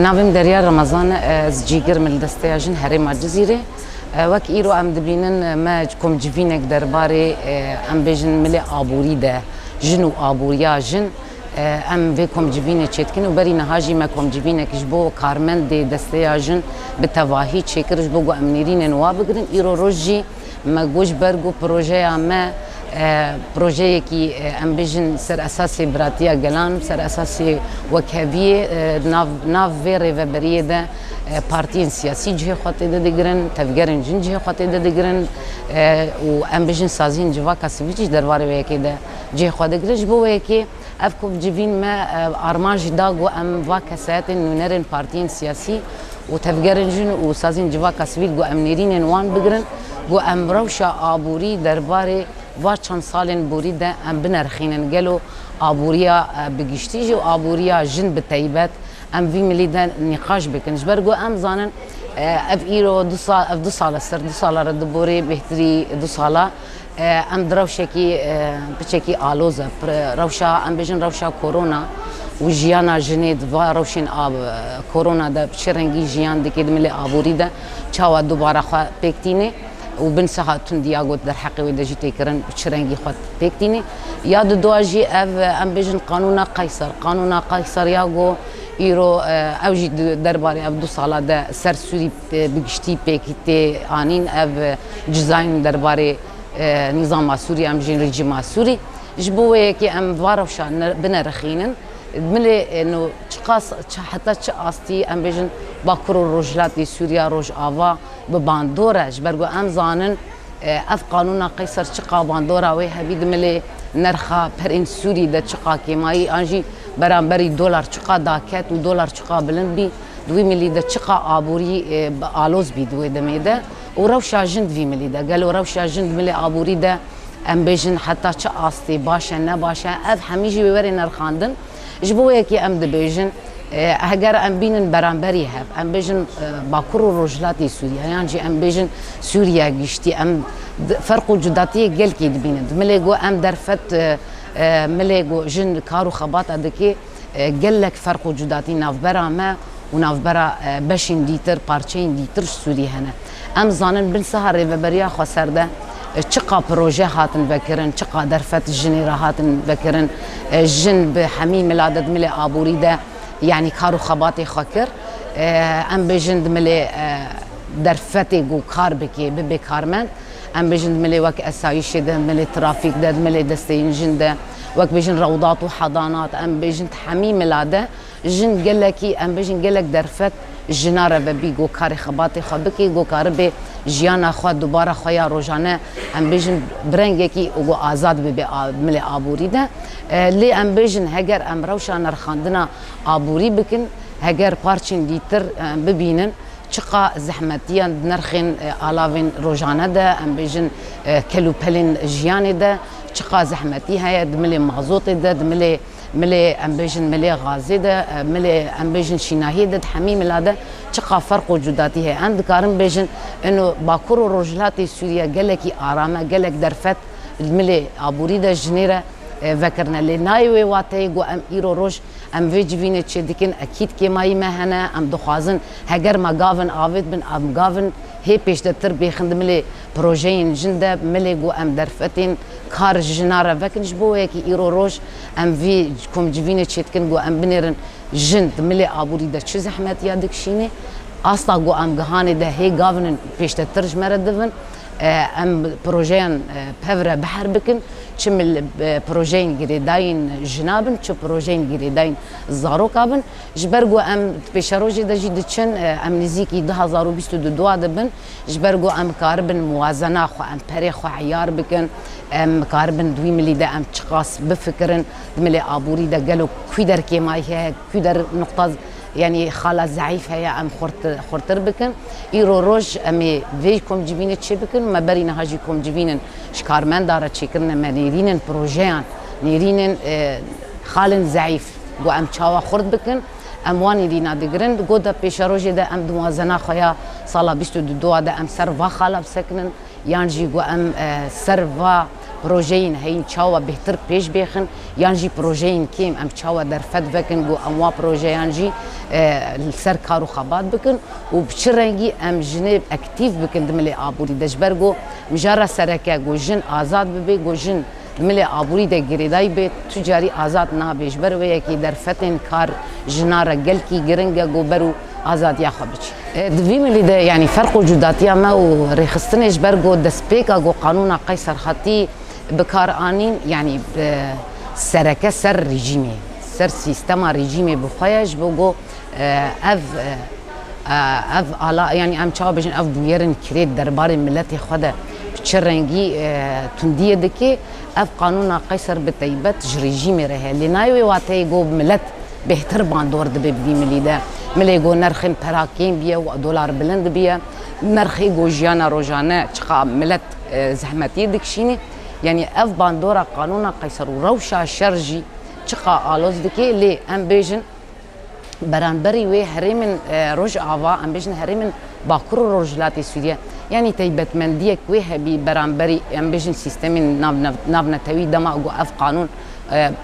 Navê min Derya Remezan e, ez cîgir me li Desteya Jin Herêma Cizîrê. Wek îro em dibînin me kom civînek derbarê em bêjin milê aborî de jin û aboriya jin em vê kom civînê çêdikin û berî niha jî me kom civînek ji bo karmendê Desteya Jin bi tevahî çêkir ji bo ku em nêrînên wan bigirin. Îro roj jî. Me got ji ber ku projeya me projeyekî em bijin ser esasê biratiya gelan, ser esasê wekheviyê nav nav vê rêveberiyê de partiyên siyasî cihê xwe tê de digirin, tevgerên jin cihê xwe tê de digirin û em bijin saziyên civaka sivîl jî derbarê wê yekê de cihê xwe digirin. Ji bo wê yekê Ev ku bi civîn me arman jî da ku em va kesayetên nûnerên partiyên siyasî û tevgerên jin û sazên civaka sivîl ku em nêrînên wan bigirin ku em rewşa aborî derbarê va çend salên borî de em binerxînin gelo aboriya bi giştî jî û aboriya jin bi taybet em vî milî de nîqaş bikin ji ber ku em zanin ev îro du sal ev du sal e ser du sal e re di borê bêhtirî du sal e. Em di rewşekî piçekî aloz e. Rewşa em bêjin rewşa korona û jiyana jinê di va rewşên a korona de bi çi rengî jiyan dike di milê aborî de çawa dubare xwe pêk tînê û bin siha tund ya got derheqê wê de jî tê kirin bi çi rengî xwe pêk tînê. Ya di dua jî ev em bêjin qanûna Qayser. Qanûna Qayser ya got îro ew jî di derbarê ev du sala de sersûrî Bi giştî pêkî tê anîn ev cizayên derbarê nizama Sûrî em bijîn rejîma Sûrî. Ji bo wê yekê em va rewşa binerixînin. Milê no çiqas heta çi astî em bêjin Bakur û Rojhilatê Sûrîya Rojava bi bandor e. Ji ber ku em zanin ev qanûna Qeyser çiqa bandora wê hebî di milê nerxa perên Sûrî de çiqa kêmayî an jî beramberî dolar çiqa daket û dolar çiqa bilind bî. Di wî milî de çiqa aborî bi aloz bî di wê demê de û rewşa jin di vî milî de. Gelo rewşa jin di milê aborî de em bêjin heta çi astê baş e ne baş e ev hemî jî wê were nirxandin. Ji bo wê yekê em dibêjin heger em bînin beramberî hev em bêjin Bakur û Rojhilatê Sûriye yan jî em bêjin Sûriya giştî em ferq û cudatiyê gelkî dibînin. Di milê ku em derfet milê ku jin kar û xebata dike, Gelek ferq û cudatî navbera me û navbera beşên dîtir, parçeyên dîtir ji Sûrî hene. Em dizanin bin siha rêveberiya Xweser de çiqa proje hatin vekirin, çiqa derfet jinê re hatin vekirin. Jin bi hemî mila de di milê aborî de yanî kar û xebatê xwe kir. Em bêjin di milê derfetê ku kar bike, bibe karmend. Em bêjin di milê wek esayîşê de, di milê trafîk de, di milê desteyên jin de. Wek bêjin rewdat û hedanat, em bêjin di hemî mela de jin gelekî em bêjin gelek derfet jina re vebî ku karê xebatê xwe bikî ku karibê jiyana xwe dubara xwe ya rojane em bêjin bi rengekî û ku azad bibê milê aborî de lê em bêjin heger em rewşa nirxandina aborî bikin heger parçên dîtir em bibînin çiqa zehmetiyan di nirxên alavên rojane de em bêjin kelûpelên jiyanê de Çiqas zehmetî heye di milê mazotê de, di milê milê em bêjin milê gazê de, milê em bêjin şînahiyê de, di hemî mila de çiqas ferq û cudatî heye. Em dikarin bêjin ino bakur û rojhilatê Sûriye gelekî aram e, gelek derfet di milê aborî de ji nê re vekirine. Lê nayê wê wateyê ku em îro roj em vê civînê çêdikin. Ekîd kêmayî me hene. Em dixwazin heger me gavin avêt bin, em gavin hê pêşdetir bêxin di milê Projeyên jin de milê ku em derfetên kar ji jinan re vekin ji bo wê ye ku îro roj em vê komcivînê çêdikin ku em binêrin jin di milê aborî de çi zehmetiya dikişînê. Asta ku em gihanê de hê gavin in pêştetir ji me re divin. Em projeyan pevre biher bikin çi projeyên girêdayîn jina bin çi projeyên girêdayîn zaroka bin. Ji ber ku em di pêşerojê de jî diçin em nizîkî du hezar û bîst û du dua dibin. Ji ber ku em bikaribin muwazena xwe, em perê xwe eyar bikin, em bikaribin di wî milî de em çiqas bifikirin, di milê aborî de gelo kû der kêmayî heye, kû der nuqta yanî xala zeîf heye em xurtir bikin. Îro roj em ê vê komcivînê çê bikin û me berî niha jî komcivîn in ji karmenda re çêkirin e, me nêrîn in projeyan, nêrîn in xalên zeîf ku em çawa xurt bikin. Em wanî dîna digirin. Di goda pêşerojê de em di wazena xwe ya sala bîst û du a de em ser va xala bisekinin yan jî ku em ser va projeyên heyîn çawa bêhtir pêş bêxin yan jî projeyên kêm em çawa derfet vekin ku em wa projeyan jî li ser kar û xebat bikin û bi çi rengî em jinê ektîf bikin di milê aborî de ji ber ku mijara sereke ku jin azad bibe ku jin Milê aborî de girêdayî bê, tu carî azad nabî. Ji ber wê yekê derfetên kar jinan re gelkî giring e ku ber û azadiya xwe biçin. Di vî milî de yanî ferq û cudatiya me û rêxistinê ji ber ku destpêka ku qanûna Qeyser hatî bikaranîn yanî sereke ser rejîmê, ser sîstema rejîmê bi xwe ye ji bo ku ev Ev ala yanî em çawa bijin ev bûyerên kirê derbarê miletê xwe de bi çi rengî tundiyê dike. Ev qanûna Qeyser bi taybet ji rejîmê re heye. Lê nayê wê wateyê go milet bêhtir bandor dibe bi vî milî de. Milê go nerxên pera kêm biye û dolar bilind biye. Nerxê go jiyana rojane çiqa milet zehmetiyê dikişîne. Yanî ev bandora qanûna Qeyser û rewşa şer jî çiqa aloz dike. Lê em bêjin. beranberî wê herêmên Rojava em bêjin herêmên Bakur û Rojhilatê Sûriye yanî taybetmendiyek wê hebî beranberî em bêjin sîstemên navnetewî dema ku ev qanûn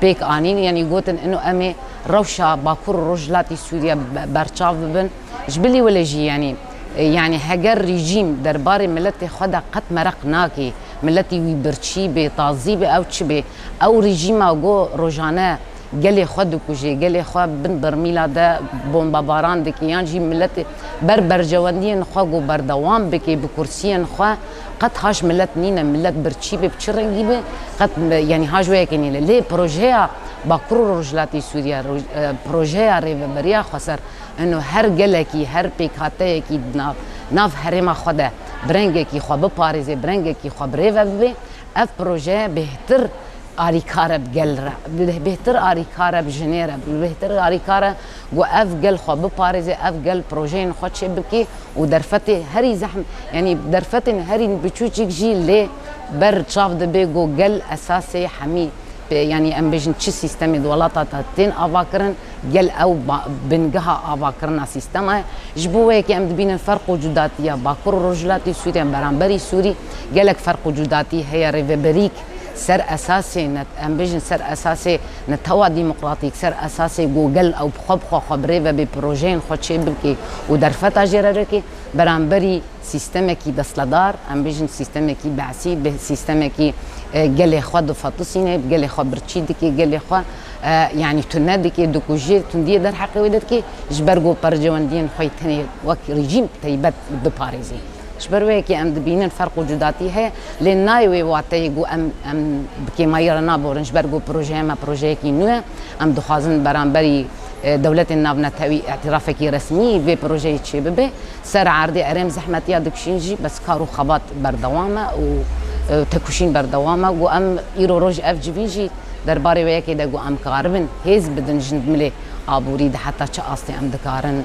pêk anîn yanî gotin ino em ê rewşa Bakur û Rojhilatê Sûriye berçav bibin ji bilî wile jî yanî yanî heger rejîm derbarê miletê xwe de qet mereq nake miletê wî birçî bê tazî bê ew çi bê ew rejîma ku rojane gelê xwe dikujê, gelê xwe bin birmîla de bombebaran dike yan jî miletê ber berjewendiyên xwe ku berdewam bike bi kursiyên xwe qet haş milet nîne. Milet birçî be bi çi rengî be qet yanî haş wê yekê nîne. Lê projeya Bakur û Rojhilatê Sûriye, projeya Rêveberiya Xweser ino her gelekî, her pêkhateyekî di nav herêma xwe de bi rengekî xwe biparêzê, bi rengekî xwe birêve bibe. Ev proje bêhtir alîkare bi gel re, bi bêhtir alîkare bi jinê re, bi bêhtir alîkare ku ev gel xwe biparêze, ev gel projeyên xwe çêbike û derfetê herî zehmet, yanî derfetên herî biçûçik jî lê ber çav dibe ku gel esasê hemî yanî em bêjin çi sîstemê di welata de tên avakirin, gel ew bingeha avakirina sîstema ye. Ji bo wê yekê em dibînin ferq û cudatiya Bakur û Rojhilatê Sûriyê beramberî Sûrî, Gelek ferq û cudatî heye rê veberîk ser esasê ne em bêjin ser esasê netewa dîmokratîk, ser esasê ku gel ew bi xwe bi xwe xwe bi rê vebê, projeyên xwe çê bikê û derfeta jê re rikê beramberî sîstemekî destledar, em bêjin sîstemekî be'sî, bi sîstemekî gelê xwe difatisîne, bi gelê xwe birçî dikê, gelê xwe yanî tune dikê, dikujê, tundiyê derheqê wê de dikê, ji ber ku percewendiyên xwe yê tenê wek rejîm taybet biparêzê. Ji ber wê yekê em dibînin ferq û cudatî heye lê nayê wê wateyê ku em em bi kêmayî re naborin ji ber ku projeyê me projeyekî nû ye. Em dixwazin beramberî dewletên navnetewî îtîrafekî resmî vê projeyê çêbibe. Ser erdê erêm zehmetiya dikişîn jî bes kar û xebat berdewam e û têkoşîn berdewam e ku em îro roj ev civîn jî derbarê wê yekê de ku em karibin hêz bidin ji milê aborî de heta çi astê em dikarin